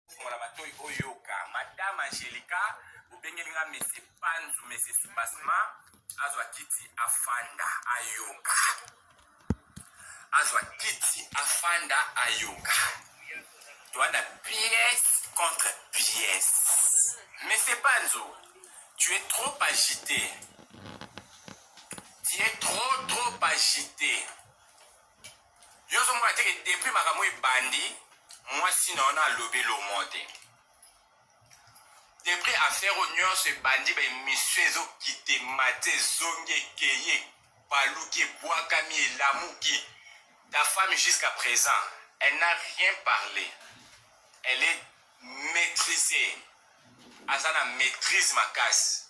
Fungola matoyi oyoka. Madame Angelica, obengeli nga Monsieur Panzu, Monsieur Soubassement, azwa kiti afanda ayoka. Azwa kiti afanda ayoka. Toanda pièce contre pièce. Monsieur Panzu, tu es trop agité. Tu es trop trop agité. Yo ozo mona te que depuis makambo ebandi mwasi na yo na alobi lomo te depuis affaire oyo nyonso ebandi ba emission ezokite mate ezongi ekeye baluki ebwakami elamuki ta femme jusqu'à présent elle n'a rien parlé elle est maîtrisée aza na maîtrise makasi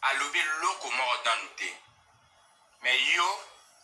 alobi eloko moko nanu te mais yo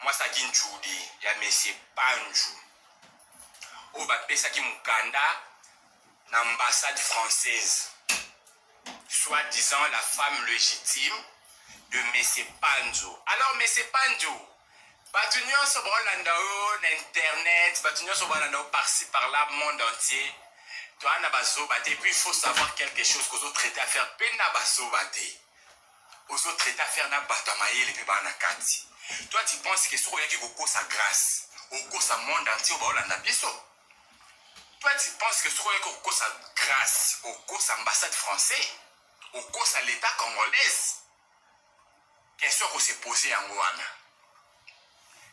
mwasi ya kinjudi ya mesie panju oyo bapesaki mokanda na ambassade française soit disant la femme légitime de mesie panzu alors mesie panzu bato nyonso baolanda yo na internet bato nyonso baolanda yo parci par là monde entier toa na bazoba te puis il faut savoir quelque chose kozotraite affaire mpe na bazoba te ozo traite affaire na batu ya mayele pe ba na kati toi tu penses que soki oyaki kokosa grace okosa monde entier baolanda biso toi tu penses que soki oyaki kokosa grace okosa ambassade français okosa l'etat congolaise question kose pose yango wana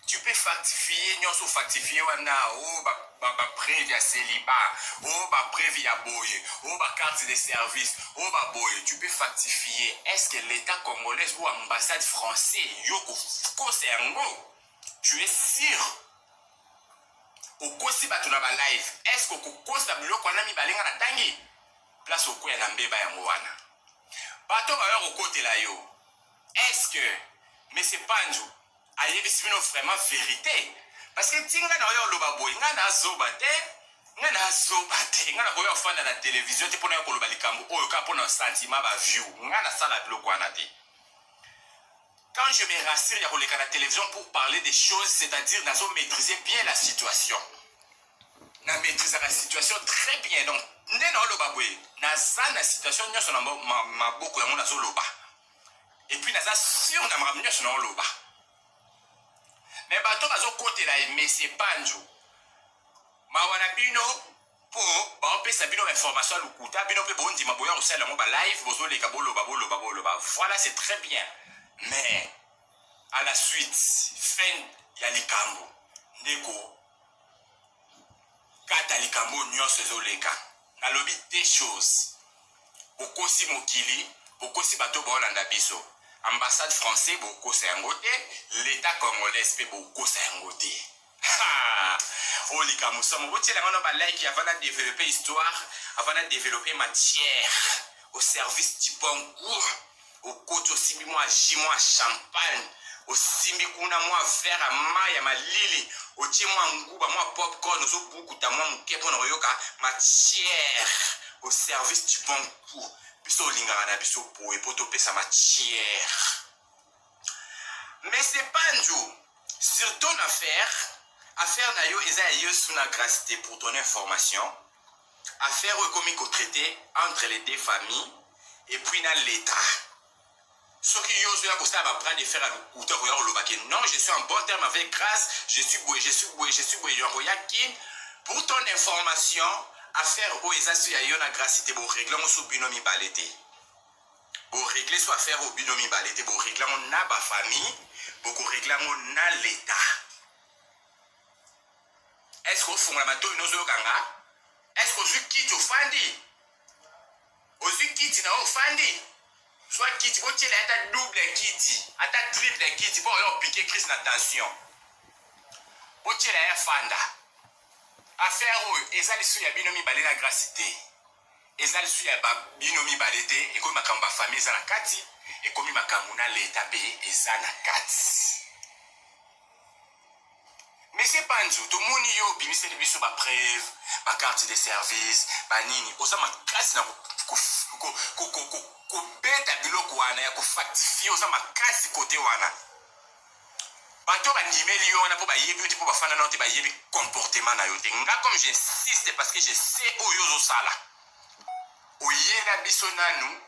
tu peux factifier nionso factifier wana o oh, ba ba ba preuve ya celibat o oh, ba preuve ya boye o oh, ba carte de service o ba boye tu peux factifier est ce que l'état congolais ou ambassade français yo kokosa yango tu es sûr okosi bato na balive est ce que okokosa biloko wana mibale nga natangi place okwea na mbeba yango wana bato bayo kokotela yo Est ce que monsieur Panzu ayebisi bino vraiment verite? Parce que ti nga naoya oloba boye nga na zoba te nga na zoba te nga nakoya ofanda na television te mpona ya koloba likambo oyo kaka mpona sentiment ba view nga nasala biloko wana te quand je me rassure ya koleka na television pour parler des choses c'est-à-dire nazo maîtriser bien la situation na maîtrisaka situation très bien donc nde naoloba boye naza na situation nyonso na maboko yango nazoloba epuis naza sur na makambo nyonso naoloba me bato bazokotela ye mesie banjo mawa na bino mpo baopesa bino bainformation ya lokuta bino mpe bondima boya kosala yango balive bozoleka boloba boloba boloba voilà c'est très bien mais à la suite fin ya likambo ndeko kata likambo oyo nyonso ezoleka nalobi deux choses bokosi mokili bokosi bato oyo baolanda biso ambassade français bokosa yango te l'état congolaise mpe bokosa yango te oyo likambo somo botyela yango na balike avant na développer histoire avant na développer matière au service du bon goût okoti osimbi mwa ji mwa champagne osimbi kuna mwa verre ya mai ya malili otie mwa nguba mwa popcorn ozobukuta mwa moke mpo na koyoka matière au service du bon coup biso olingaka na biso boye mpo topesa matière mais c'est pas njo sur ton affaire affaire na yo eza ya yesu na grace te pour ton information Affaire oyo ekomi ko traiter entre les deux familles et puis na l'etat. Soki yo ozoya kosala ba bras de fer ya lokuta okoya koloba ke non je suis en bon terme avec Grace, je suis boye, je suis boye, je suis boye, yango ya kin. Pour ton information, affaire oyo eza so ya yo na Grace te, bo régler yango so bino mibale te. Bo régler so affaire oyo bino mibale te, bo régler yango na ba famille, boko régler yango na l'etat. est ce que ofongola matoyi nozoyoka nga est ce que ozwi kiti ofandi ozwi kiti na yo ofandi zwa kiti botyela ata double kiti ata triple kiti mpo oyo opike crise na tension botyela ye afanda affaire oyo eza lisusu ya bino mibale na grasi te eza lisusu ya bino mibale te ekomi makambo bafamille eza na kati ekomi makambo na leta mpe eza na kati Monsieur Panzu, tomoni yo obimiseli biso ba preuve, ba carte de service, ba nini. Oza makasi na kobeta biloko wana ya kofactifie, oza makasi kote wana. Bato bandimeli yo wana mpo bayebi yo te, mpo bafanda nao te, bayebi comportement na yo te. Nga comme j'insiste parce que je sais oyo ozosala. Oyela biso nanu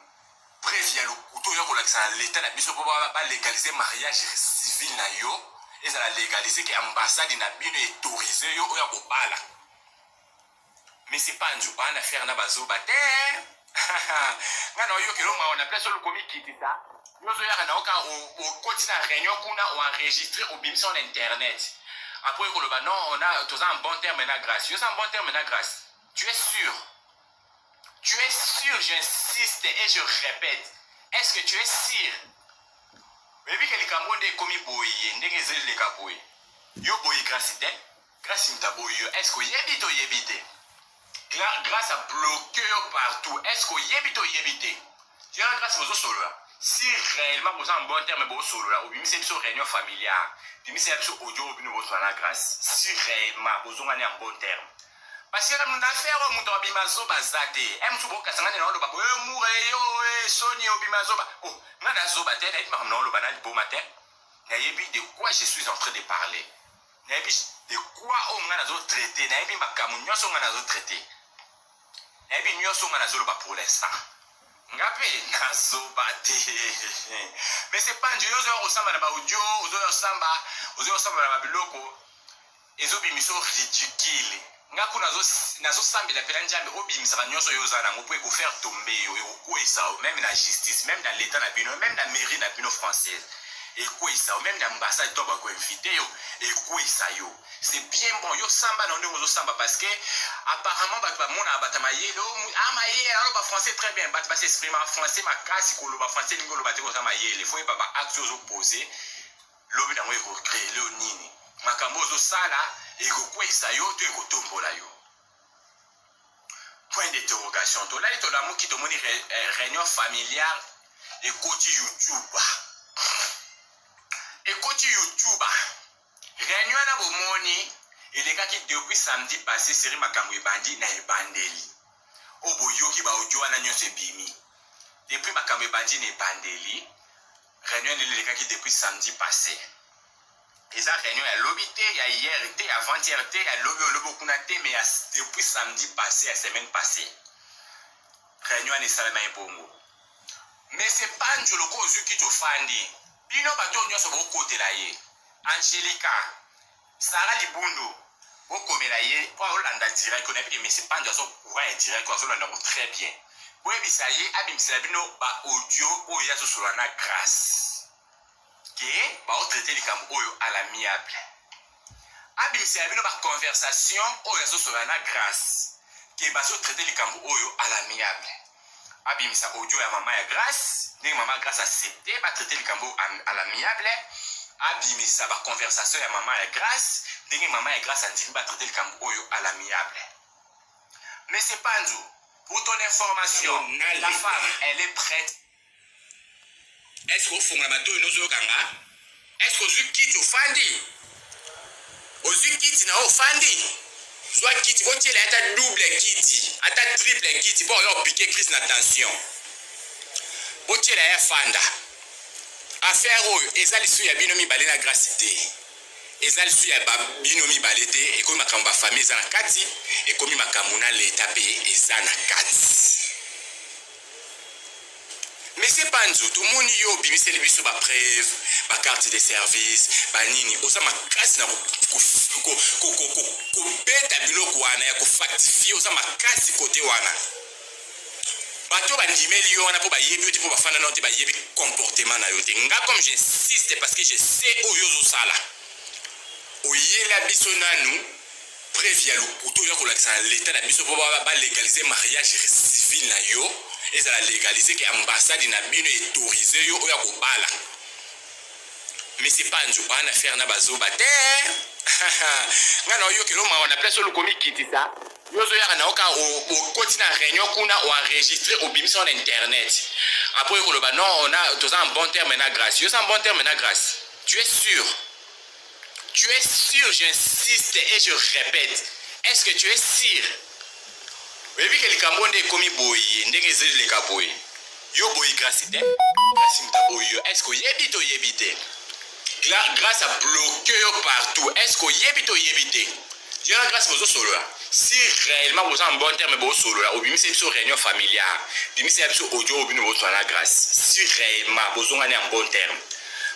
preuve ya lokuta oya kolakisa na leta na biso mpo balegalize ba mariage civil na yo ezala legalize ke ambassade na bino etorise yo oya kobala mesi panzu baa na fere na bazoba te ngai naoyokela mawa na place olokomikitisa yozoyaka na oka okoti na réunion kuna oenregistre obimisa na internet apres koloba non toza en bon terme na grace yo oza en bon terme na grace tu es sûr Tu es sûr, j'insiste et je répète, est-ce que tu es sûr oyebi ke likambo nde ekomi boye ndenge ezali leka boye yo boye grasi te grasi moto aboyi yo est-ce que oyebi to oyebi te grâce à bloquer yo partout est-ce que oyebi to oyebi te yo na grâce bozosolola si réellement boza en bon terme bosolola obimisa biso réunion familiale bimisa biso audio oyo bino bosolola na grâce si réellement bozongani en bon terme Parce que na affaire oyo moto abima zoba aza te e mosusu bokasa ngai na oloba boye mura eyo e soni obima zoba o oh, ngai na zoba te nayebi makambo na oloba na liboma te nayebi de quoi je suis en train de parler nayebi de quoi oyo ngai nazo traite nayebi makambo nyonso ngai nazo traite nayebi nyonso ngai nazoloba pour l'instant nga mpe nazoba te mais c'est pas nje yo ozoya kosamba na baudio ozoya kosamba ozoya kosamba na babiloko ezo bimisa yo ridicule nga kuna nazo nazo sambela pela njambe obimisaka nyonso yo oza nango po eko faire tomber yo ekokweyisa yo meme na justice meme na leta na bino meme na mairie na bino française ekweyisa yo meme na ambassade to bako invite yo ekweyisa yo c'est bien bon yo samba na ndenge ozosamba parce que apparemment bato bamonaka bato ya mayele a mayele aloba français très bien bato basi exprima français makasi koloba français elingi oloba te koza mayele fo yeba ba acte ozopose lobi na yango ekocrele yo nini makambo ozosala ekokweisa yo to ekotombola yo point d'interrogation tolali tolamuki tomoni eh, réunion familiale ekoti youtube ekoti youtube réunion wana bomoni elekaki depuis samedi passé seri makambo ebandi na ebandeli oyo boyoki baaudio wana nyonso ebimi depuis makambo ebandi na ebandeli Reunion nini elekaki depuis samedi passé. Eza reunion ya lobi te, ya hier te, ya avant hier te, ya lobi oyo lobi okuna te, mais ya depuis samedi passé, ya semaine passée. Reunion wana esalama ebongo. Mais c'est pas njolo ko ozuki tofandi. Bino bato nyonso bokotela ye. Angelica, Sarah libundu bokomela ye po azolanda direct oyo nayebi ke monsieur pandu azo courant ya direct oyo azolanda yango très bien boyebisa ye abimisela bino ba audio oyo ye azosolola na grace ke baotraite likambo oyo à l'amiable abimisela bino ba conversation oyo azosolola na grace ke bazotraite likambo oyo à l'amiable abimisa audio ya mama ya grace ndenge mama ya grace accepte batraite likambo à l'amiable abimisa baconversation ya mama ya grace ndenge mama ya grace andimi batraite likambo oyo à l'amiable monsieur panzu pour ton information la femme elle est prête Est-ce que ofungola matoyi nozoyoka nga? Est-ce que ozwi kiti ofandi? Ozwi kiti na yo ofandi? Zwa kiti botyela ata double kiti ata triple kiti mpo oyo opike crise na tension. Botyela ye afanda. Affaire oyo eza lisu ya bino mibale na grasi te eza lisu ya bino mibale te ekomi makambo bafamille eza na kati ekomi makambo na leta mpe eza na kati Monsieur Panzu, tomoni yo obimiseli biso ba preuve, ba carte de service, ba nini, oza makasi na kobeta biloko wana ya kofactifie, oza makasi kote wana. Bato bandimeli yo wana mpo bayebi yo te, mpo bafanda nao te, bayebi comportement na yo te. Nga comme j'insiste parce que je sais oyo ozosala, oyela biso nanu preuve ya lokuta oza kolakisa na leta na biso mpo balegalize mariage civil na yo ezala legalize ke ambassade na bino etorise yo oyo akobala misi panzu bana faire na bazoba te nga na oyokelo mawa na place olukomikitisa yo ozoyaka na oka okoti na réunion kuna oenregistre obimisa yo na internet apres oye koloba non toza en bon terme na grace yo oza en bon terme na grace tu es sûr Tu es sûr, j'insiste et je répète, est-ce que tu es sûr oyebi ke likambo nde ekomi boye ndenge ezali leka boye yo boye grasi te grasi moto aboyi yo est-ce que oyebi to oyebi te grâce à bloqué yo partout est-ce que oyebi to oyebi te yo na grâce bozosolola si réellement boza en bon terme bosolola obimisa ye biso réunion familiale bimisa ya biso audio oyo bino bozwa na grâce si réellement bozongani en bon terme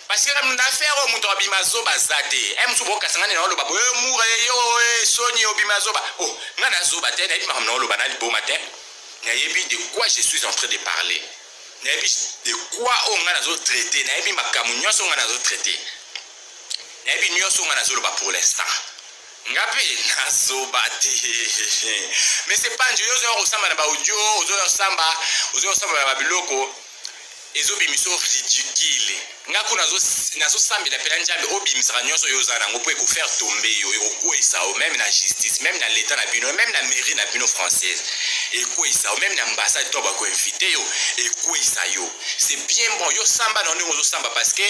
Parce que na affaire oyo moto abima zoba aza te e eh, mosusu bokasangani na oloba boye eh, mura eh, yo soni obima zoba o oh, nga na zoba te nayebi makambo na oloba na liboma te nayebi de quoi je suis en train de parler nayebi de quoi oyo nga nazo traite nayebi makambo nyonso nga nazo traite nayebi nyonso nga nazoloba pour l'instant nga mpe nazoba te mais c'est pas nje yo ozoya kosamba na baudio ozoya kosamba ozoya kosamba na babiloko ezo bimisa yo ridicule nga kuna nazo nazo sambela pela njambe obimisaka nyonso yo oza nango mpo ekofaire tombe yo ekokweyisa yo meme na justice meme na leta na bino meme na mairie na bino française ekweyisa yo meme na ambassade to bakoinvite yo ekweyisa yo c'est bien bon yo samba na ndenge ozosamba parce que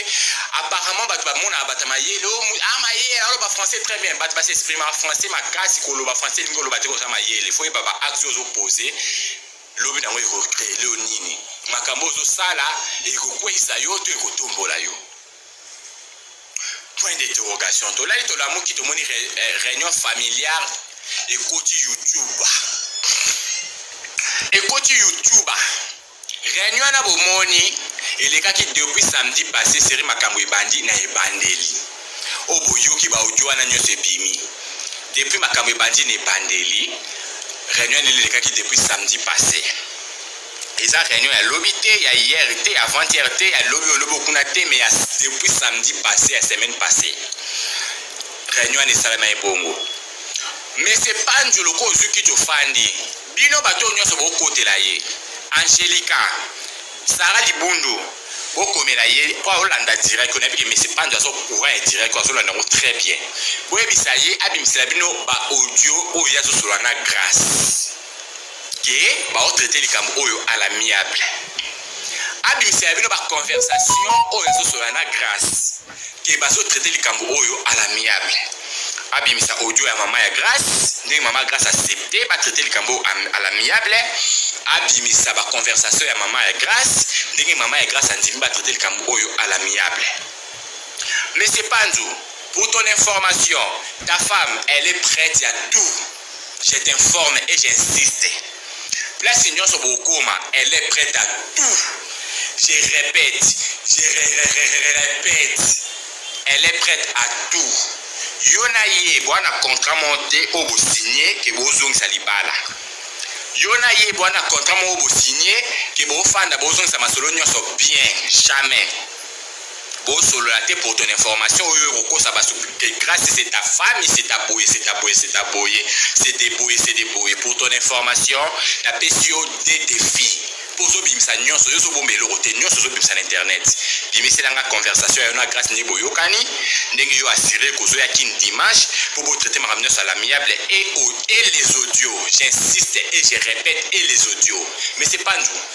apparemment bato bamonaka bato mayele a mayele aloba français très bien bato basexprimaka français makasi koloba français elingi oloba te koza mayele fo yeba ba axe ozopose Lobi na yango ekorele yo nini? Makambo ozosala ekokweisa yo to ekotombola yo? Point d'interrogation. Tolali tolamuki tomoni eh, reunion familiale ekoti YouTube. Ekoti YouTube. Reunion na bomoni elekaki depuis samedi passé série makambo ebandi na ebandeli. Oyo boyoki ba audio wana nionso ebimi depuis makambo ebandi na ebandeli. Reunion nini elekaki depuis samedi passe? Eza reunion ya lobi te, ya hier te, avant hier te, ya lobi olobi okuna te, mais ya depuis samedi passe ya semaine passée. Reunion wana esalama ebongo. Monsieur Panju loko ozuki tofandi. Bino bato nyonso bokotela ye. Angelica Sarah libundu bo komela ye po azo landa direct oyo nayebi ke monsieur panzo azo courant ya direct oyo azo landa yango très bien bo yebisa ye abimisela bino ba audio oyo ye azo solola na grace ke bao traiter likambo oyo à l'amiable abimisela bino ba conversation oyo azo solola na grace que bazo traiter likambo oyo à l'amiable abimisa audio ya mama ya grace ndenge mama grace accepte batraite likambo à l'amiable abimisa baconversation ya mama ya grace ndenge mama ya grace andimi batraite likambo oyo à l'amiable monsieur panzu pour ton information ta femme elle est prête ya tout je t'informe et j'insiste place nyonso bokoma elle est prête à tout je répète je répète elle est prête à tout yo na ye bwana contrat moko te oyo bosigne ke bozongisa libala yo na ye bwana contrat moko bosigne ke bofanda bozongisa masolo nyonso bien jamais Bo solola te pour ton information oyo eko kosa batu que grace c'est ta femme c'est ta boye c'est ta boye c'est ta boye c'est de boye c'est de boye pour ton information na pesi yo deux defis po ozo bimisa nionso yo ozo bomba eloko te nionso ozo bimisa na internet bimisela nga conversation ya yo na grace ndenge boyokani ndenge yo assure kozo ya kin dimanche po bo traiter makambo nionso à l'amiable et, au, et les audios j'insiste et je répète et les audios mais c'est pas nous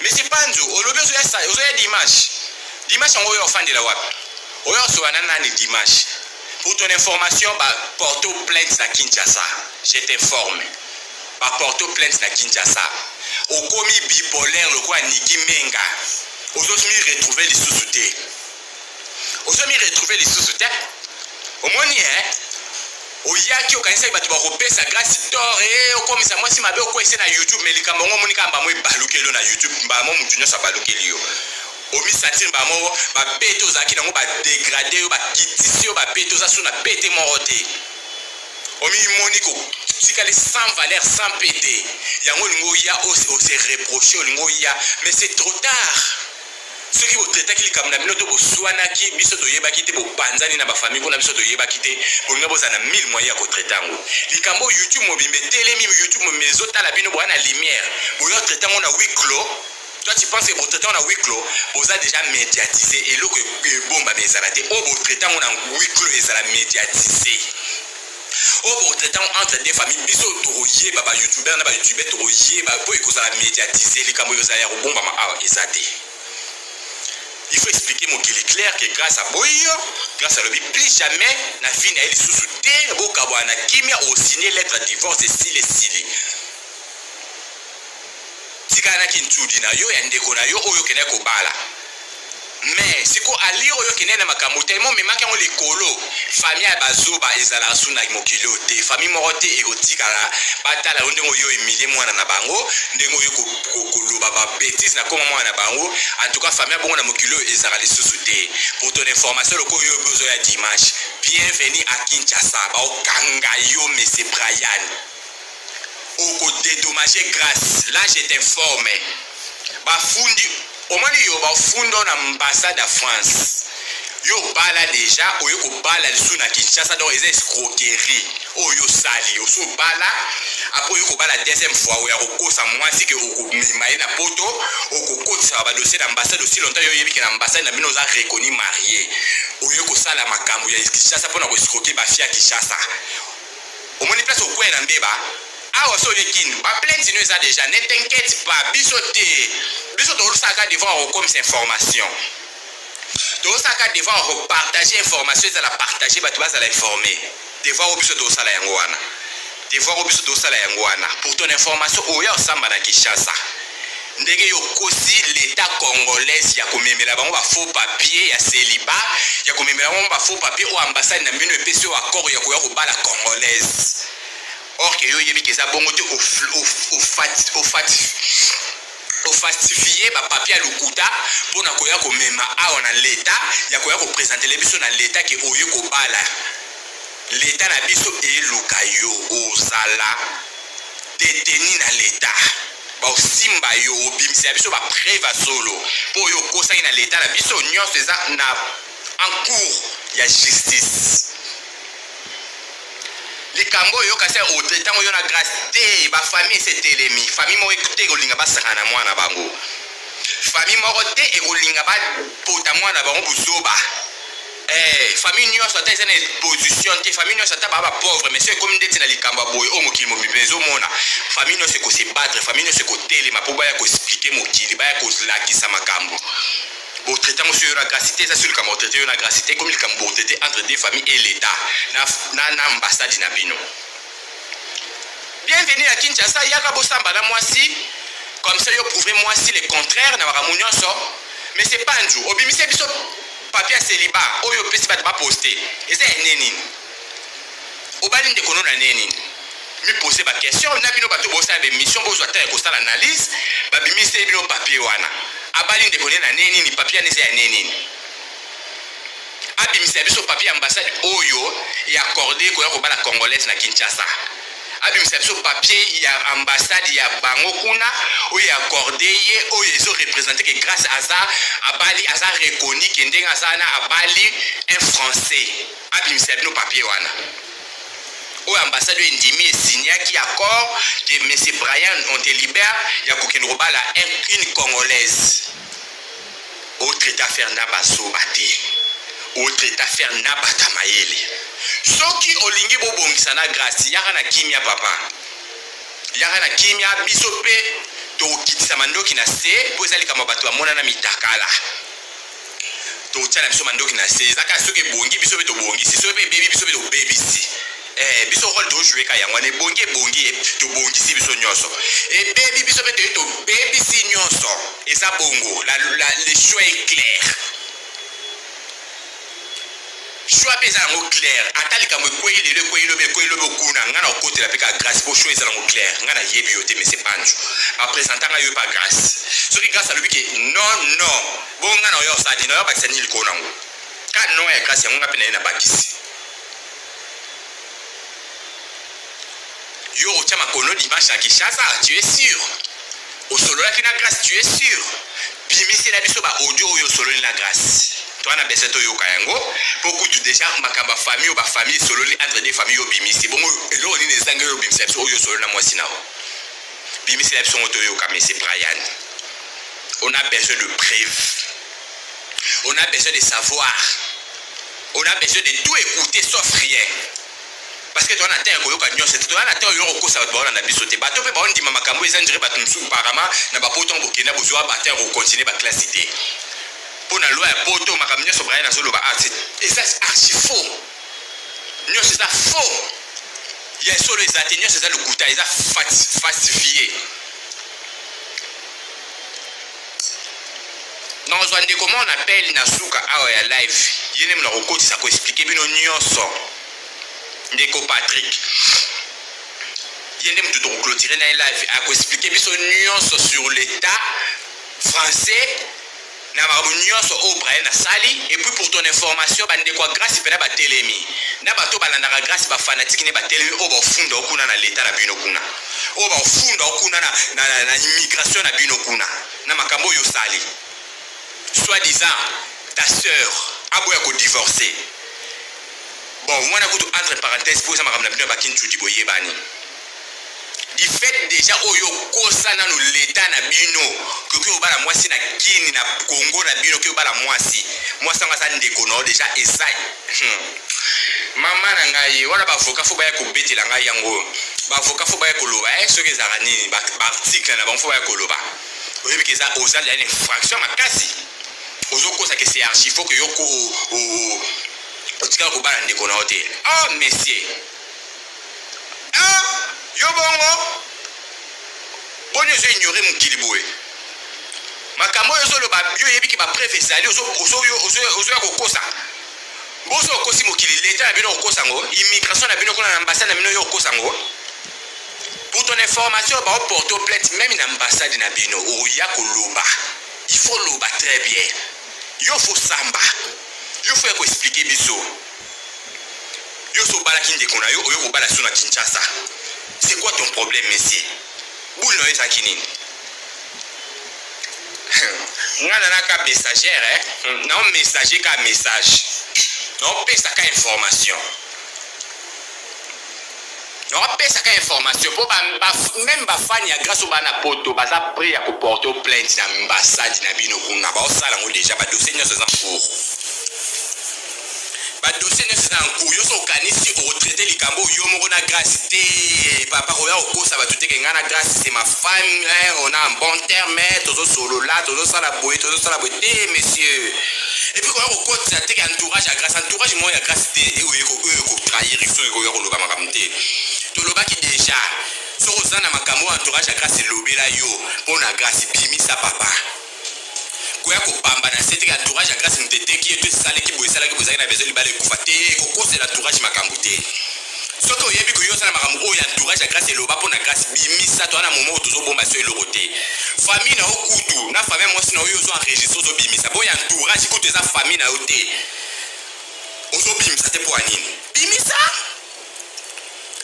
Monsieur Panzu, olobi ozoya sa, ozoya dimanche. Dimanche yango oyo ofandela wapi? Oyo osoba na nani dimanche? Pour ton information, ba porto plainte na Kinshasa. Je t'informe. Ba porto plainte na Kinshasa. Okomi bipolaire lokola Niki Menga. Ozomi retrouver lisusu te. ozo mi retrouver lisusu te omoni eh oyaki okanisaki bato bakopesa grasi tor e eh, okomisa mwasi mabe okwese na youtube me likambo yango omoni kaka mbamo ebalukeli yo na youtube mbala mo motu nyonso abalukeli yo omisantiri mbala moko bapete ozalaki nango badegrade yo bakitisi yo bapete oza so na pete moko te omimoni kotikali sans valeur sans pete yango olingi oya ose reproche olingi oya mais c'est trop tard soki bo traitaki likambo na bino to boswanaki biso toyebaki te bopanzani na bafamille kuna biso toyebaki te bolinga bozala na mille moyen ya kotraite yango likambo oyo youtube mobimba etelemi youtube mobimba ezotala bino boya na lumière boya traite yango na huis clos toi tu penses que botraite yango na huis clos boza déjà médiatise eloko ebombami ezala te oyo botraite yango na huis clos ezala médiatise oyo bokotraite yango entre deux famille biso tokoyeba ba youtubeur na ba youtubeur tokoyeba mpo ekozala médiatise likambo ekozala ya kobombama awa eza te il faut expliquer mokili clair que grâce à boyo grâce alobi plus jamais na vie na ye lisusu te bokabwana na kimia osigne lettre divorce esili esili Tika na ki ntudi na yo ya ndeko na yo oyo okendaki kobala. Mais siko allure oyo okendaki na makambo tellement omemaki yango likolo. Famille ya bazoba ezalaka su na mokili oyo te. Famille moko te ekotikala batala yo ndenge oyo humilie mwana na bango, ndenge oyo koloba ba betises na koma mwana na bango. En tout cas famille ya bongo na mokili oyo ezalaka lisusu te. Pour ton information loko oyo ozo ya dimanche. Bienvenue à Kinshasa. Ba okanga yo monsieur Brian. oko dedommager grace là je t'informe bafundi omoni yo bafundo na ambassade ya france yo obala deja oye kobala lisusu na kinshasa donc eza escroquerie oyo osali osi obala apres oye kobala deuxième fois oyo akokosa mwasi ke okomema ye na poto okokotisa badossier na ambassade osi longtemps yo oyebi ke na ambassade na bino oza reconnu marie oye kosala makambo ya kinshasa mpona koescroke bafia kinshasa Omoni place okueya na mbeba awa so oye kin ba plainte no eza deja ne t'inquiète pas biso te biso tosalaka devant okomisa information tosalaka devant opartage information ezala partage bato bazala informe devant o biso tosala yango wana devant o biso tosala yango wana pour ton information oya osamba na kinshasa Ndenge yo okosi l'etat congolaise ya komemela bango ba faux papier ya celibat, ya komemela bango ba faux papier oyo ambassade na bino epesi yo accord ya koya kobala congolaise. Or que yo oyebi que eza bongo te, ofalsifie ba papier ya lokuta mpo na koya komema awa na l'etat ya koya kopresentele biso na l'etat ke oye kobala. L'etat na biso eluka yo ozala detenu na l'etat. Baosimba yo obimisela biso ba preuve ya solo po yo okosaki na l'etat na biso nionso eza na en cours ya justice likambo oyo yoka se ote tango yo na grace te ba famille esi etelemi famille moko ekute ekolinga basaka na mwana bango famille moko te ekolinga bapota mwana bango buzoba Eh, famille nyonso ata eza na position te famille nyonso ata baa ba pauvre mais so ekomi ndeti na likambo ya boye oyo mokili mobimba ezomona famille nyonso ekose battre famille nyonso ekotelema mpo baya koexplike mokili baya kolakisa makambo botraite yango soyo na grasi te eza soki likambo botraite yo na grasi te ekomi likambo botraite entre deux famille et l'état na, na, na ambassade na bino bienvenu ya kinshasa yaka bosamba na mwasi comme ça yo prouve mwasi le contraire na makambo nyonso mais c'est pas nju obimisi biso Papier ya celibat oyo opesi bato ba poster eza ya ndenge nini? Obali ndeko no na ndenge nini? Mi poser ba questions na bino bato bosala ba emissions bozwa temps ya kosala analyse babimiseli bino papier wana. Abali ndeko ne na ndenge nini? Papier wana eza ya ndenge nini? Abimisela biso papier ya ambassade oyo e accorder koya kobala congolaise na Kinshasa. abimisa biso papier ya ambassade ya bango kuna oyo ya accorde ye oyo ezo represente que grace aza abali aza reconnu que ndenge aza wana abali un français abimisa bino papier wana oyo ambassade oyo endimi esignaki accord que monsieur brian on te libère ya kokende kobala une congolaise o traita ferre na ba zoba te o traita ferre na bata mayele soki olingi bobongisa na grace yaka na kimia papa yaka na kimia biso mpe tokokitisa mandoki na se mpo eza likambo bato bamonana mitakala totya na biso mandoki na se ezaka soki ebongi biso mpe tobongisi soki mpe ebebi biso mpe tobebisi Eh, biso role tozwi eka yango wana ebongi ebongi eh, tobongisi biso nyonso ebebi biso mpe toyei tobebisi nyonso eza bongo la, la, le choix est clair choix mpe eza yango clair ata likambo ekwei lelo ekwei lobi ekwei lobi okuna ngai na okotela mpe ka grace mpo choix eza nango clair ngai nayebi yo te mese panjo bapresenta ngai yo mpe grace soki grace alobi ke non non bongo ngai na oyo osadi na oyo abakisa nini likolo nango ka non ya grace yango ngai mpe na ye nabakisi yo okotia makono dimanche na kinshasa tu es sur osololaki na grace tu es sur bimisela biso baaudio oyo osololi na grace toana bese toyoka yango mpo kutu deja makambo ya famille oyo bafamille esololi entre de famille oyo obimisi bongo eloko nini ezangi oyo obimisa biso oyo osololi na mwasi na o bimisela biso ngo toyoka mesi brian on a besoin de preuve On a besoin de savoir. On a besoin de tout écouter sauf rien. Parce que toi, Nathan, tu as nyonso. Toi, Nathan, tu as kosa bato baona na biso te. Bato pe baondi mama kambo eza ndire bato msu parama na bapoto en bokenda bozwa batin ko continuer ba classe te. Pour la loi ya poto makambo nyonso Brian azoloba ah, eza archi faux. Nyonso eza faux. Ya solo eza te nyonso eza lokuta eza falsifié. nazwa ndeko moko na pele na suka awa ya live ye nde mona kokotisa koexplike bino nyonso ndeko patrick ye nde motu tokoklotire na ye live akoexplike biso nyonso sur l'état français na makambo nyonso oyo brian asali epuis pour ton information bandeko ya grace mpena batelemi na bato balandaka grace bafanatike nde batelemi oyo baofunda okuna na leta na bino kuna oyo bafunda yo kuna na, na, na, na immigration na bino kuna na makambo oyo osali soit disant ta sœur aboya kodivorce bon wana kutu entre parenthèse mpo eza makambo na bino ya bakinchudi boyebani du fait déjà oyo okosa nano leta na bino koki obala mwasi na kini na kongo na bino oki obala mwasi mwasi yango aza ndeko na yo déjà eza hmm. Maman na ngai wana ba avocat faut baya kobetela ngai yango ba avocat faut baya koloba eh soki ezalaka nini ba article na bango faut baya koloba oyebi ke eza oza ya infraction makasi ozokosa ke c'est archi faut ke yo ko otikala kobala ndeko na yo te ah monsieur ah yo bongo boni ozo ignore mokili boye makambo oyo ozoloba yo oyebi ke bapreve ezali ozoya kokosa Bozo okosi mokili leta na bino okosa ngo immigration na bino kuna na ambassade na bino yo okosa ngo pour ton information ba porto plainte même na ambassade na bino oya koloba il faut loba très bien yo faut samba yo faut ya ko expliquer biso yo so balaki ndeko na yo oyo kobala suna Kinshasa c'est quoi ton problème monsieur Boule na yo ezalaki nini? Nga na naka messager eh. Hmm, na messager ka message. Na pesa ka information. Na pesa ka information po ba, ba même ba fan ya grâce au bana poto baza prêt ya ko porter plainte na ambassade na bino kuna. Ba osala ngo déjà ba dossier nyoso za cours. Ba dossier nionso eza en cours. Yo so okanisi oko traiter likambo yo moko na Grace te papa oya kokosa batu te ke nga na Grace c'est ma femme eh, on a un bon terme tozo solola tozo sala boye tozo sala boye te monsieur. Et puis koya kokotisa te ke entourage ya Grace entourage moko ya Grace te eh, oyo eko oyo eko trahir soki koya koloba makambo te. Tolobaki deja soki oza na makambo entourage ya Grace elobela yo mpo na Grace bimisa papa. koya kobamba na se teke entourage ya grace moto eteki ye to esaleki boye esalaki boye ezalaki na besoin libala ekufa te kokosela entourage makambo te soki oyebi koyo osala makambo oyo entourage ya grace eloba mpo na grace bimisa toza na momo oyo tozobomba so eloko te famille na yo kutu na famille ya mwasi na oyo ozo enregistre ozobimisa mpo ya entourage kutu eza famille na yo te ozobimisa te mpo ya nini bimisa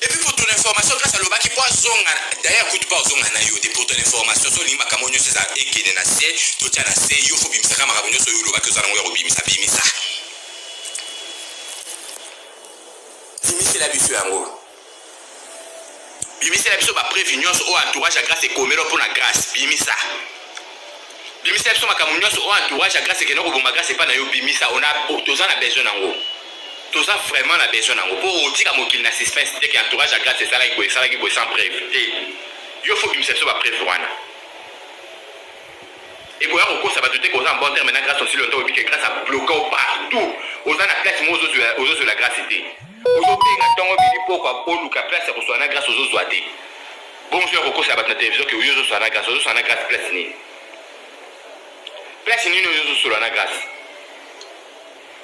Et puis pour ton information, grâce à Lobaki, pour Zonga, d'ailleurs, coup de pas Zonga Nayo, pour ton information, sur l'imba Kamonyo, c'est ça, et qui est na C, tout tient na C, yo, faut bimisa, kama Kamonyo, sur Lobaki, aux alentours, au bimisa, bimisa. Bimisa, la bisu, en gros. Bimisela biso ba preuve nyonso oyo entourage ya Grace ekomelo mpo na Grace. Bimisa. Bimisela biso makambo nyonso oyo entourage ya Grace ekende koboma Grace epai na yo. Bimisa. Ona toza na besoin nango. Toza vraiment na besoin nango. Mpo otika mokili na suspense te ke entourage ya Grace esalaki boye, esalaki boye sans preuve te. Yo faut bimisa biso ba preuve wana. ekoya kokosa bato te koza en bon terme na grace osili oto oyebi ke grace abloka o partout oza na place mo ozozwela grace te Ozo benga tongo omeli pokwa oluka place ya koswana na grace ozo zwa te bongo soki okokosela batu na television ke yo ozo swana na grace ozo swana na grace place nini place nini oyo ozo solola na grace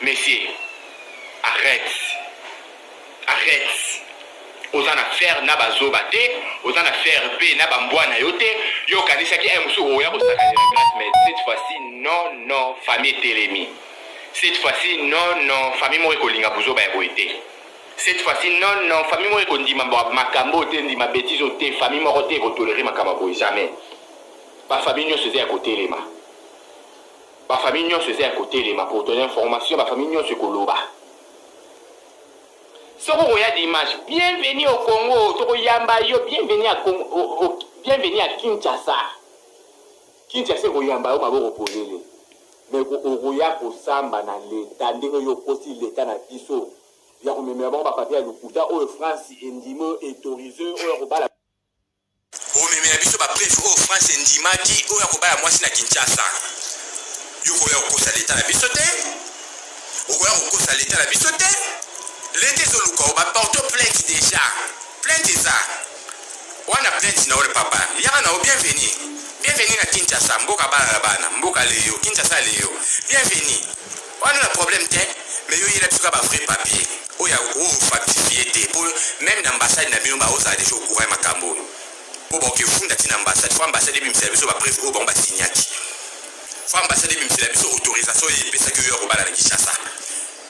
monsieur arrête arrête oza na faire na bazoba te oza na faire mpe na bambwa na yo te yo okanisaki aye mosusu okoya kosakanela grace mais cette fois-ci non non famille etelemi Cette fois ci non non famille moko ekolinga buzoba ya boye te cette fois ci non non famille moko ekondima makambo oyo te ndima betise oyo te famille moko te eko tolerer makambo ya boye jamais ba famille nionso eza ya kotelema ba famille nionso eza ya kotelema pour ton information ba famille nionso ekoloba soki okoya dimanche bienvenu au congo tokoyamba yo bienvenu ya congo bienvenu ya kinshasa Kinshasa ekoyamba yo maboko polele mais okoya kosamba na l'etat ndenge yo okosi l'etat na biso ya komemela bango ba papier ya lokuta oyo France endimi oyo ethorize oyo ya kobala Omemela biso ba preuves oyo France endimaki oyo ya kobala mwasi na Kinshasa yo okoya kokosa l'etat na biso te okoya kokosa l'etat na biso te l'etat ezoluka yo ba porte plainte dejà plainte eza Wana plainte na yo le papa liaka na yo bienvenue bienvenue na Kinshasa mboka bana na bana mboka leyo Kinshasa leyo bienvenue wana na problème te mais yo yela biso ka ba vrai papier oyo ya o factifier te po même na ambassade na bino ba ozala déjà au courant ya makambo oyo po ba okefunda ti na ambassade fo ambassade ebimisela biso ba preuve oyo bango ba signaki fo ambassade ebimisela biso autorisation oyo epesaki yo ya kobala na Kinshasa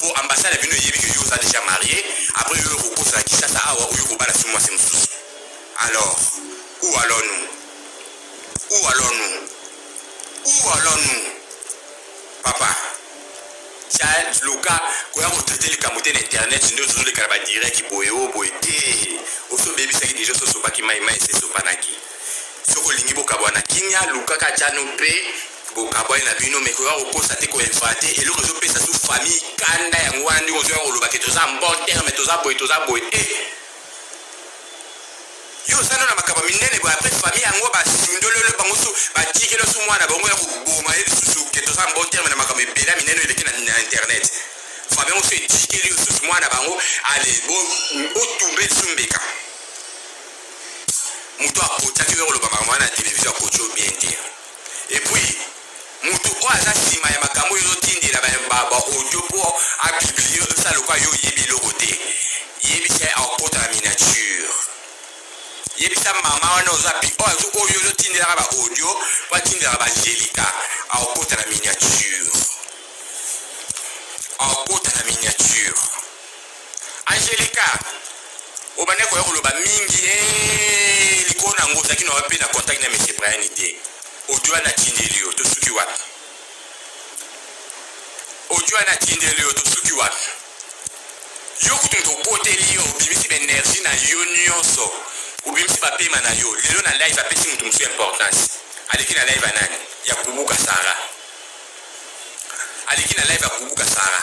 po ambassade na bino eyebi que yo oza dejà marie après yo okokosa na Kinshasa awa oyo kobala sous mwasi mosusu alors où allons nous où allons nous où allons nous papa child luka koya kotraite likambo te na internet nde ozozoleka na badireki boye o boye te osi obebisaki deja ososopaki mai mai esesopanaki soki olingi bokabwana kimia lukaka cano mpe Bokabwani na bino mais ekoka kokosa te ko inventer eloko ezo pesa sous famille kanda yango wana ndenge ozo yango loba ke toza en bon terme toza boye toza boye eh yo oza na makambo minene boye après famille yango basundolelo bango so batikelo so mwana bango ya koboma ye lisusu ke toza en bon terme na makambo ebela minene eleki na internet famille yango so etikeli lisusu mwana bango ale botumbe lisusu mbeka moto akotaki yo koloba makambo wana na televizio akoti yo bien te Et puis mutu oyo aza sima ya makambo oyo ozo tindela ba ba audio po a publier ozo sala lokola yo oyebi eloko te yebisa ye akota na miniature yebisa mama wana oza pi oyo azo oyo ozo tindelaka ba audio po atindelaka ba angelica akota na miniature akota na miniature Angelica obandaki koya koloba mingi ee, likolo na yango ozalaki na wapi mpe na contact na monsieur Brian te audio wana atindeli yo tosuki wapi audio wana atindeli yo tosuki wapi yo kutu moto okoteli yo obimisi baenergie na yo nyonso obimisi bapema na yo lelo na live apesi moto mosusu importance aleki na live ya nani ya kubuka sara aleki na live ya kubuka sara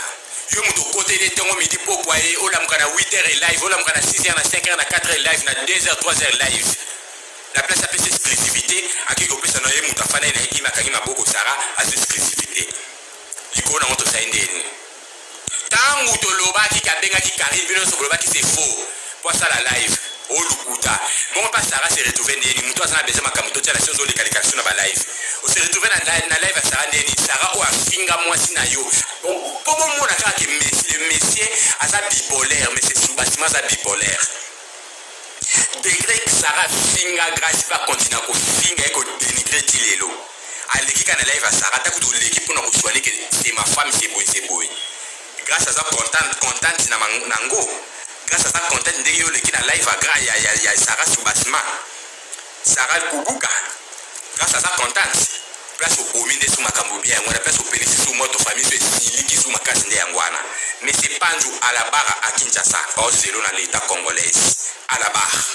yo moto okoteli ntongo midi pokwa ye olamuka na 8 heures live olamuka na 6 heures na 5 heures na 4 heures live na 2 heures 3 heures live na place apesa exclusivité akei kopesa na ye moto afandaki na ye kima akangi maboko sara aza exclusivité likolo nango tosali ndeni Tangu tolobaki ke abengaki Carine bino nionso bolobaki c'est faux po asala live oh lukuta bongo pa Sarah se retrouver ndeni mutu aza na besoin makambu totia na se ozo leka leka biso na ba live o se retrouver na live na live ya Sarah ndeni Sarah oyo afinga mwasi na yo po bomona kaka ke le monsieur aza bipolaire monsieur Simba Simba aza bipolaire Degre Sarah afinga Grace pe akontinua kofinga ye ko denigre ti lelo. Aleki kaka na live ya Sarah ata kutu oleki pona kosua ne ke c'est ma femme c'est boye c'est boye. Grace aza contente contente na nango. Grace aza contente ndenge yo oleki na live ya ya Sarah Subasma. Sarah likubuka place aza contente place obomi nde su makambo bien yango wana place opelisi su moto famille su esiliki su makasi nde yango wana monsieur panzu à la barre à Kinshasa baozelo na l'etat congolaise à la barre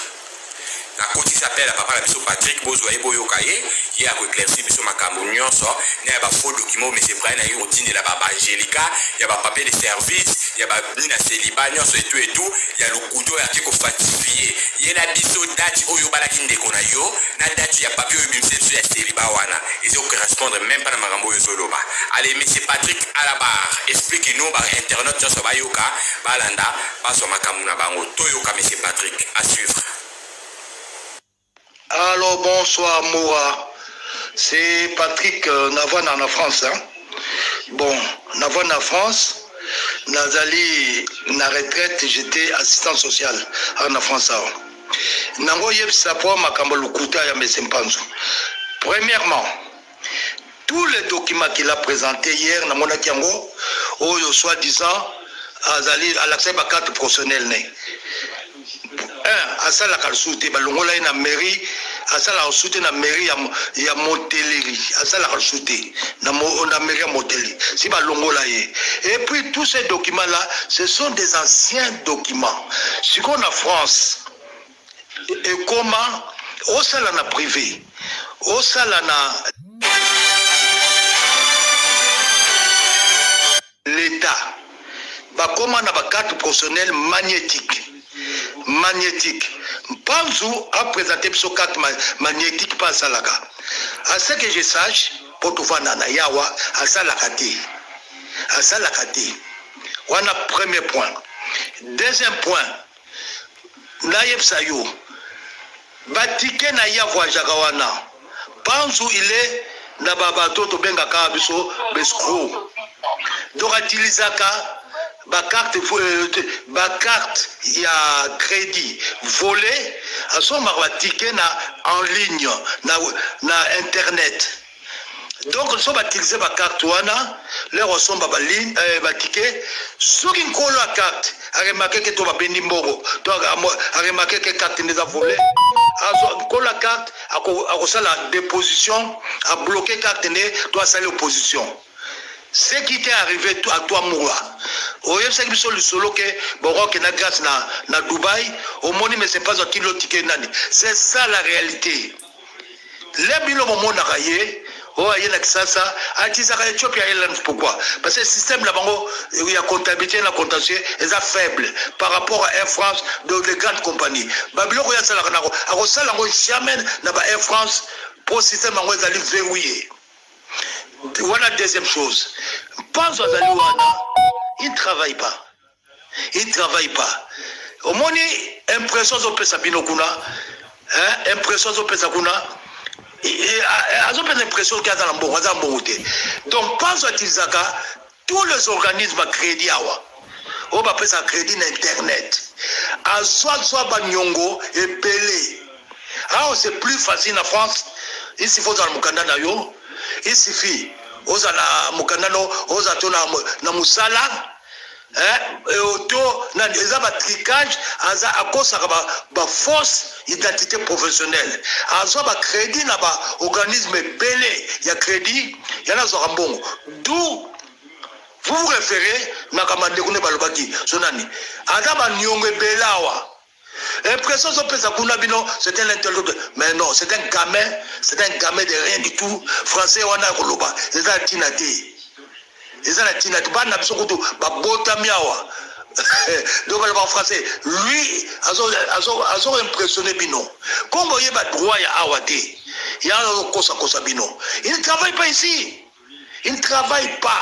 nakotisi appel ya papa na biso Patrick bozwa ye boyoka ye ye ya koeclaircir biso makambo nyonso na ya bafaux document oyo monsieur Brian aye kotindela ba angelica ya bapapier de service ya ba mi na celibat nionso et tout et tout ya lokuta oyo ake ko falsifier yela biso date oyo obalaki ndeko na yo na date ya papier oyo obimiseli biso ya celibat wana ezo correspondre meme pas na makambo oyo ozo loba allez monsieur Patrick à la barre explique nous ba internautes nionso bayoka balanda bazwa makambo na bango toyoka monsieur Patrick à suivre. Allo bonsoir Mura, c'est Patrick euh, Navana na France hein? Bon, Navana na France, nazali na retraite, j'étais assistant social awa na France awa. Nango yebisa po makambo lokuta ya Mese Mpanzu. Premièrement, tous les documents qu'il a présenté hier na monaki yango oyo soit disant azali alakisaki ba carte professionnelle ne un asalaka lisusu te balongola ye na mairie asalaka lisusu te na mairie ya, ya moteleri asalaka lisusu te na, na mairie ya moteleri si balongola ye et puis tous ces documents là ce sont des anciens documents sikoyo na france ekoma osala na prive osala na leta bakoma na bacarte professionnelle magnétique magnétique mpanzu apresente biso carte magnétique mpe asalaka à ce que je sache mpo tovanda na yawa asalaka te asalaka te wana premier point deuxième point nayebisa yo batike na ya voyagaka wana panzu ile na babato tobengaka biso bescro donc atilisaka bacarte euh, bacarte ya crédit volet asombaka batike na en ligne na, na internet donc so batilize bacarte wana lere osomba baline eh, batike soki nkolo ya carte aremake ke to babendi mbongo to aremake ke carte nde eza vole nkolo ya carte akosala deposition abloke carte nde to asali opposition ce qui t'est arrivé à toi moura oyebisaki biso lisolo ke boroke na grâce na, na dubai omoni mais c'est pas akili otike nani c'est ça la réalité le bino bomonaka ye oyo oh, aye na kisasa atisaka ethiopia airlines pourquoi parce que système na bango eh, ya comptabilité na contentieux eza faible par rapport à air france donc de grande compagnie babiloko oyo asalaka nako akosala yango jamais na ba air france mpo système yango ezali verrouille wana deuxième chose mpanzo azali wana il travaille pas il travaille pas omoni impression azopesa bino kuna eh, impression azopesa kuna azopesa impression ke aza na mbongo aza na mbongo te donc panzo atilisaka tous les organismes crédit awa oyo bapesaka crédit na internet azwa zwa banyongo ebele awa c'est plus facile na france isifi ozala mokanda na yo isifi ozala mokanda no ozala to na mosala hein oto euh, na eza ba tricage aza akosaka ba, ba fausse identité professionnelle azwa ba crédit na ba organisme ebele ya crédit yana azwaka mbongo d'où vous vous référez na kamandeko nde balobaki so nani aza baniongo ebele awa Impression ozo pesa kuna bino c'est un intellectuel mais non c'est un gamin c'est un gamin de rien du tout français wana ya koloba eza na tina te eza na tina te bana na biso kutu babotami awa donc baloba français lui azo azo azo impressionner bino kombo ye ba droit ya awa te ya kosa kosa bino il travaille pas ici il travaille pas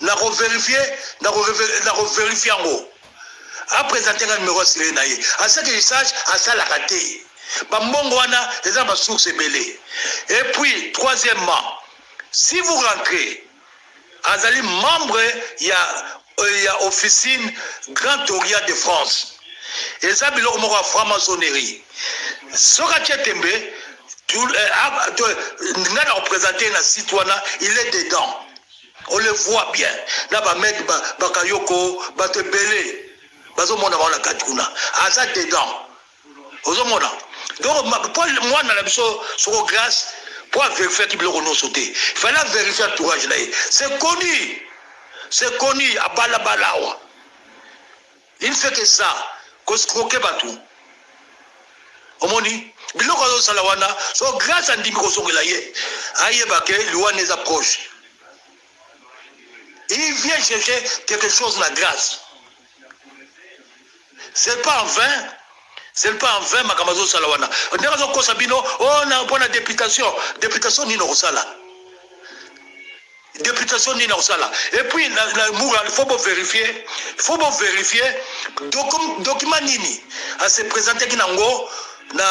Nako verifier, nako nako verifier yango. A presenter nga numero ya celluler na ye. A ce que je sache, asalaka te. Ba mbongo wana eza na ba sources ebele. Et puis, troisièmement, si vous rentrez, azali membre ya euh, ya officine Grand Orient de France. Eza biloko moko ya franc-maçonnerie. Soki atie tembe, tu- eh, ah, tu- nga na ko presenter ye na site wana, il est dedans. On le voit bien na ba mec ba bakayoko bato ebele bazo mona bango na kati kuna aza dedans ozo mona donc ma- po mwana na biso soko grace po averifiaki biloko nyonso te fallait averifie entourage na ye c'est connu c'est connu abalabala awa Il ne fait que ça, ko escroquer batu. Omoni biloko azo sala wana, so grâce à ndimi ko zongela ye, ayeba que Luanda eza proche. Il vient chercher quelque chose na grâce. C'est pas en vain c'est pas en vain makambo azosala wana ndenge azokosa bino oh, mpo na deputation deputation nini okosala Deputation nini akosala? Et puis na, na Mura, il faut bo vérifier, il faut bo vérifier docu, document nini a se présenter ki nango na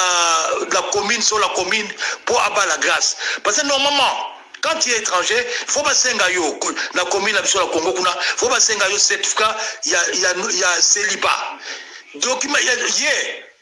la commune sur la commune pour abat la grâce. Parce que normalement quand tu es étranger, il faut basenga yo na commune na biso na Congo kuna, il faut basenga yo certificat ya ya ya celibat. Document ya ye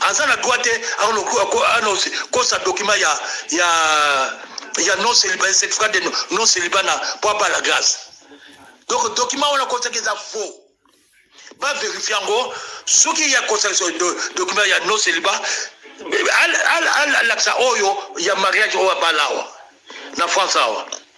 aza na droit te anonse kosa document ya ya ya non celibat certificat de non celibat na mpo abala grâce donc document wana kosaki eza faux baverifie yango soki ya kosakisa document ya non celibat alakisa oyo ya mariage oyo abala awa na france awa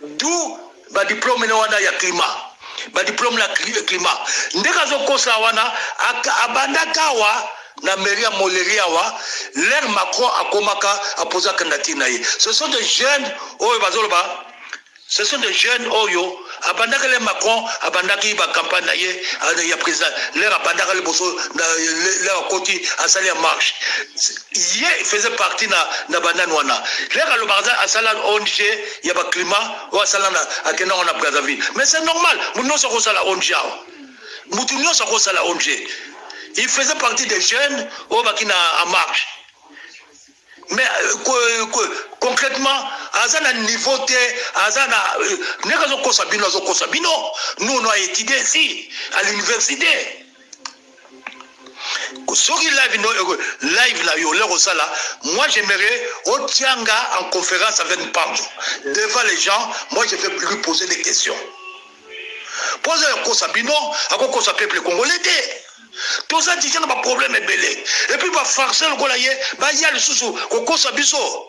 d'où ba diplome na wana ya climat ba diplome na climat ndenge azokosa wana abandaka awa na mairie ya moleri awa lere macron akomaka apoza candidature na ye ce sont des jeunes oyo bazoloba ce sont des jeunes oyo abandaka le macron abandaki bacampagne na ye ya président lere abandaka liboso lere akoti asali ya marche Ye il faisait partie na na banani wana leka alobaka aza asala ONG ya ba climat oyo asala na akenda ngo na Brazzaville mais c'est normal mutu nyonso akosala ONG awa mutu nyonso akosala ONG il faisait partie des jeunes oyo baki na en marche mais euh, concrètement aza na niveau te aza na euh, ndenge azokosa bino azokosa bino nous on a étudié ici à l'université soki live no live na yo leko sala moi j'aimerais otianga en conférence avec Mpanzo devant les gens moi je vais lui poser des questions poza ya kosa bino akokosa peuple congolais te toza deja na baproblème ebele epuis bafarce lokola ye baya lisusu kokosa biso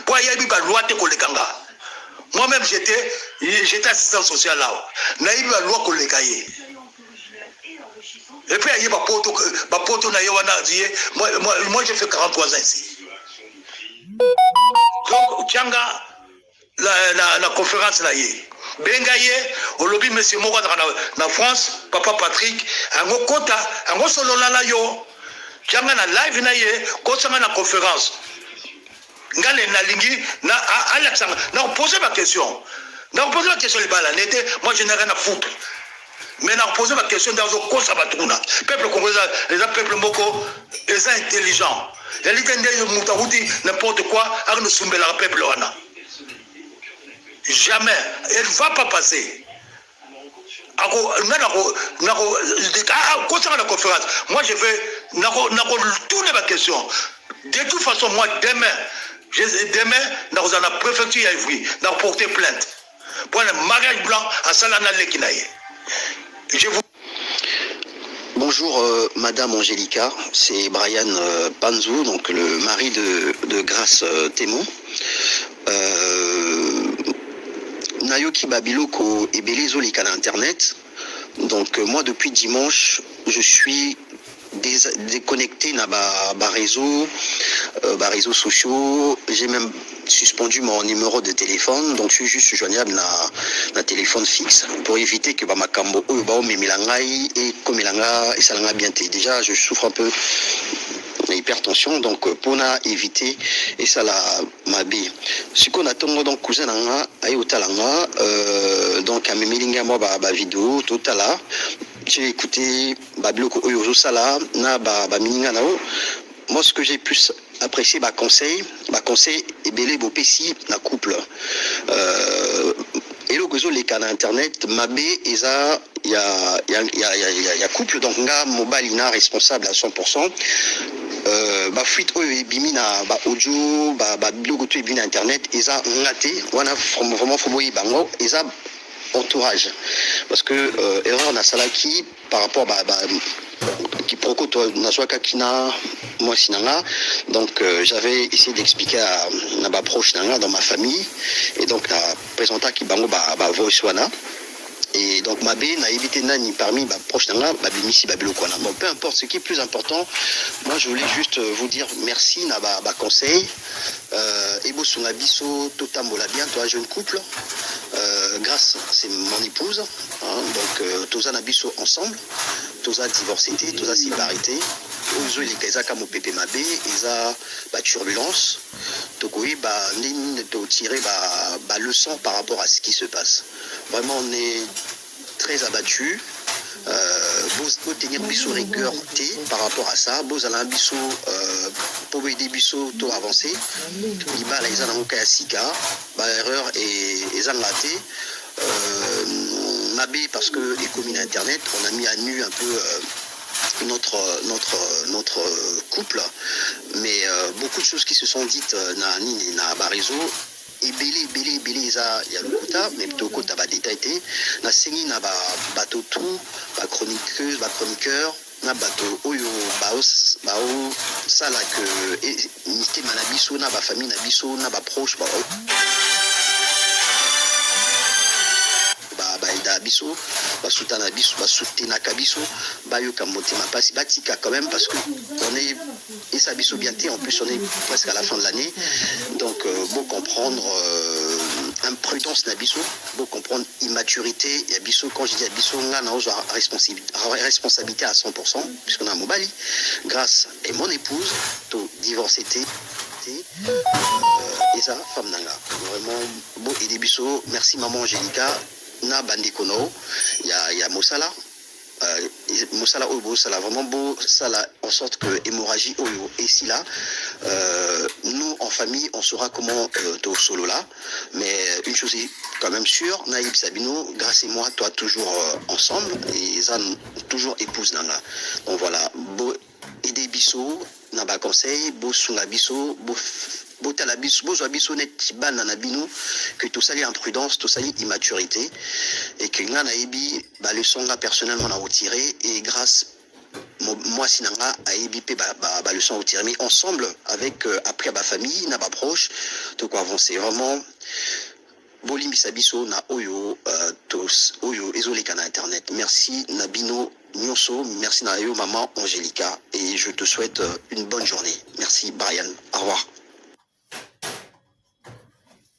mpo ayebi ba loi te koleka nga moi même j'étais j'étais assistant social là nayebi ba loi koleka ye et puis aye bapoto bapoto na ye wana ye moi, moi, moi j'ai fait 43 ans ici donc tianga la, la, la conférence na ye benga ye olobi monsieur moko azalaka na, na france papa patrick yango kota yango solola na yo tianga na live na ye kosanga na conference nga le nalingi na alakisa nga na poser ba question na poser ba question libala nete moi je n'ai rien à foutre mais na poser ba question ndazo kosa batu kuna peuple congolais eza peuple moko eza intelligent yalite nde moto akuti n'importe quoi akende osumbelaka peuple wana jamais elle va pas passer ako nga nako nako akosaka na conférence moi je vais nako nako tourner ba question de toute façon moi demain je, demain nakozala na préfecture ya Ivry nako porter plainte pour le mariage blanc asala na leki na ye je vous Bonjour euh, Madame Angelica, c'est Brian euh, Panzou, donc le mari de, de Grace euh, Témon. Euh, nayoki ba biloko ebele ezoleka na internet donc euh, moi depuis dimanche je suis déconnecté na ba, ba réseaux euh, ba réseaux sociaux j'ai même suspendu mon numéro de téléphone donc je suis juste joignable na, na téléphone fixe pour éviter que bamakambo oyo baomemela ngai ekomela nga esala nga bien te déjà je souffre un peu na hypertension donc mpona euh, éviter esala mabe siko na tongo donc cousin na nga aye kotala nga euh, donc amemeli ngai mwa bavideo totala j'ai écouté babiloko oyo ozosala na bamininga na yo moi ce que j'ai plus apprécié baconseil baconseil ebele bopesi na couple euh, eloko ezoleka na internet mabe eza ya, ya, ya, ya, ya, ya couple donc nga mobali na responsable à 100% euh, bafuite oyo ebimi na baaudio babiloko ba to ebimi na internet eza nga te wana vraiment fo boyeba yango eza entourage parce que euh, erreur nasalaki par rapport ba, ba quiproquo nazwakaki na mwasi na nga donc euh, j'avais essayé d'expliquer à, na baproche na nga dans ma famille et donc na présentaki bango ba, ba voice wana et donc mabe nayebi te nani parmi baproche na nga babimisi babiloko wana bon peu importe ce qui est plus important moi je voulais juste euh, vous dire merci na baconseil ba euh, ebosunga biso totambola bien toi jeune couple euh, grâce c'est mon épouse hein, donc euh, toza na biso ensemble toza divorcé te toza séparé te oyo ezoleka ezaka mopepe mabe eza baturbulence tokoyeba ndenge nini totire baleçon par rapport à ce qui se passe vraiment on est très abattu euh, bo tenir biso rigueur te par rapport à ça bozala biso euh, po boyede biso to avancer libala eza nango ka ya sika ba erreur ezanga te euh, mabe parce que ekomi na internet on a mis à nu un peu euh, notre, notre, notre couple, mais euh, beaucoup de choses qui se sont dites euh, na, na, na Barizo ebele ebele ebele eza ya lokuta mais tokota ba detail te nasengi na ba bato tout ba chroniqueuse ba chroniqueur na bato oyo baosala que eh, mitema na biso na bafamille na biso na baproche ba baida biso basutana biso basutenaka biso bayoka motema mpasi batika quand même parce que on est Esa biso bien te en plus on est presque à la fin de l'année donc euh, bo comprendre euh, imprudence na biso bo comprendre immaturité ya biso quand je dis ya biso nga na ozwa responsabilité à 100% puisque na mobali grâce et mon épouse to divorcé te euh, eza femme na nga vraiment bo aide biso merci maman Angelica na bandeko na yo ya, ya mosala mosala oyo bosala vraiment bosala en sorte que hémorragie oyo esila euh, nous en famille on saura comment euh, tosolola mais une chose est quand même sûre naïb sabino grâce et moi toi toujours euh, ensemble et eza toujours épouse nanga donc voilà Aider biso na ba conseil bosunga biso botala biso bozwa biso neti bana na bino que tosali imprudence tosali immaturité et que nga nayebi ba leçon nga personnellement na otire et grâce mwasi na nga ayebi mpe baleçon otire mais ensemble avec euh, après ba famille na baproche toko avancer vraiment Bolimbisa biso na oyo uh, tos, oyo ezoleka na internet. Merci na bino nyoso. Merci na yo maman Angelica et je te souhaite euh, une bonne journée. Merci Brian. Au revoir.